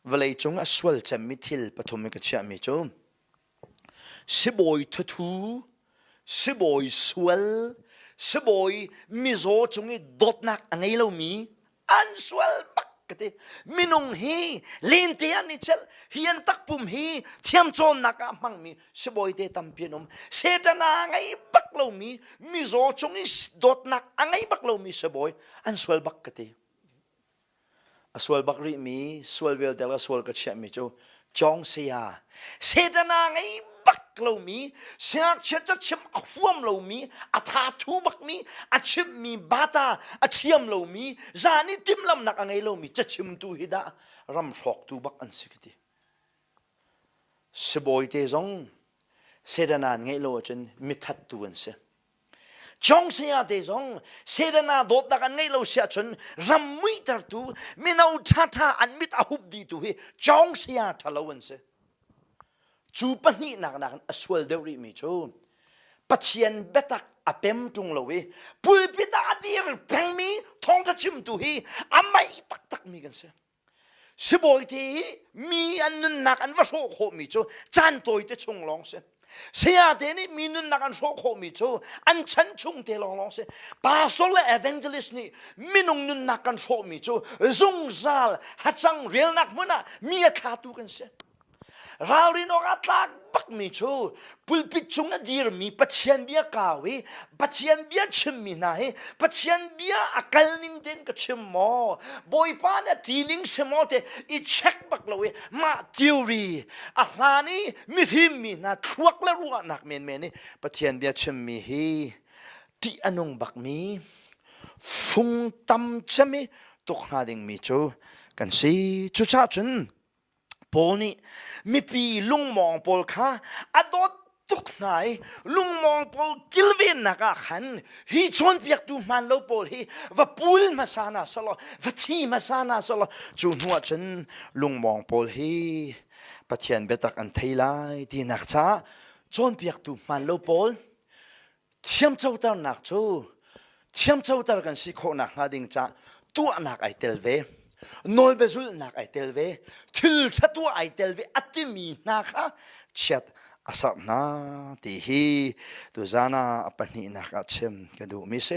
vawleicung a sual cemmi thil pathum in ka chiahmi cu sibawi thuthu sibawi sual sibawi mizaw cung i dawtnak a ngei lomi an sual bak ka ti minung hi lente an i chelh hian takpum hi thiamcawnnak ah hmangmi sibawi te tampi an um setan a ngei bak lomi mizaw cung i dawtnak a ngei bak lomi sibawi an sual bak ka ti A sual bak rih mi, sual vialte le sual ka chiah mi cu Cawng saya, Satan a ngei bak lomi, siangakchia ca chim a huam lomi, a thathu bak mi, a chimh mi bata a thiam lomi, zan i timlamnak a ngei lomi cachimtu hi dah ram hrawktu bak an si ka ti. Sibawi te zong Satan an ngeih lo ahcun mithattu an si. Chong saya te zong Satan a dawtnak an ngeih lo si ahcun ram muitertu mino ṭhaṭha an mit a hup dih tu hi Chong saya ṭhalo an si. Cu pahnihnak nakin a sual deuh rihmi cu Pathian biatak a pem ṭung lo i pulpit ah a dir pengmi thawngṭha chimtu hi a mei taktakmi kan si. Sibawite i mi an nunnak an va hrawh khawhmi cu caan tawite chung lawng si. Sayate nih mi nunnak an hrawh khawhmi cu an chan chung te lawnglawng si. Pastor le evangelist nih minung nunnak kan hrawhmi cu zungzal hacang relnak hmun ah mi a thlatu kan si. Ralrin awk ah tlak bakmi cu pulpit cung a dirmi Pathian bia kau i Pathian bia chimmi hna hi Pathian bia a kal ning tein ka chim maw Bawipa nih a ti ning si maw te i check bak lo i mah theory a hlan i mifimmi hna thluak le ruahnak menmen i Pathian bia chimmi hi ṭih a nung bakmi fung tam cem i tuk hnga dingmi cu kan si. Cucahcun Paul nih mipi lungmawng pawl kha a dawt tuk hna i lungmawng pawl kilvennak ah khan hi chawnpiaktu hmaan lo pawl hi va pul hmasa hna selaw va thi hmasa hna selaw cu hnuah cun lungmawng pawl hi Pathian biatak an thei lai tinak caah cawnpiaktu hmaan lo pawl Thiamcoternak cu thiamcoter kan si khawhnak hnga ding ca tuahnak ai tel ve. Nawl ve zulhnak ai tel ve. Thil ṭha tuah ai tel ve a timi hna kha chiat a sarh hna ti hi tuzan ah a pahnihnak ah chim ka duhmi a si.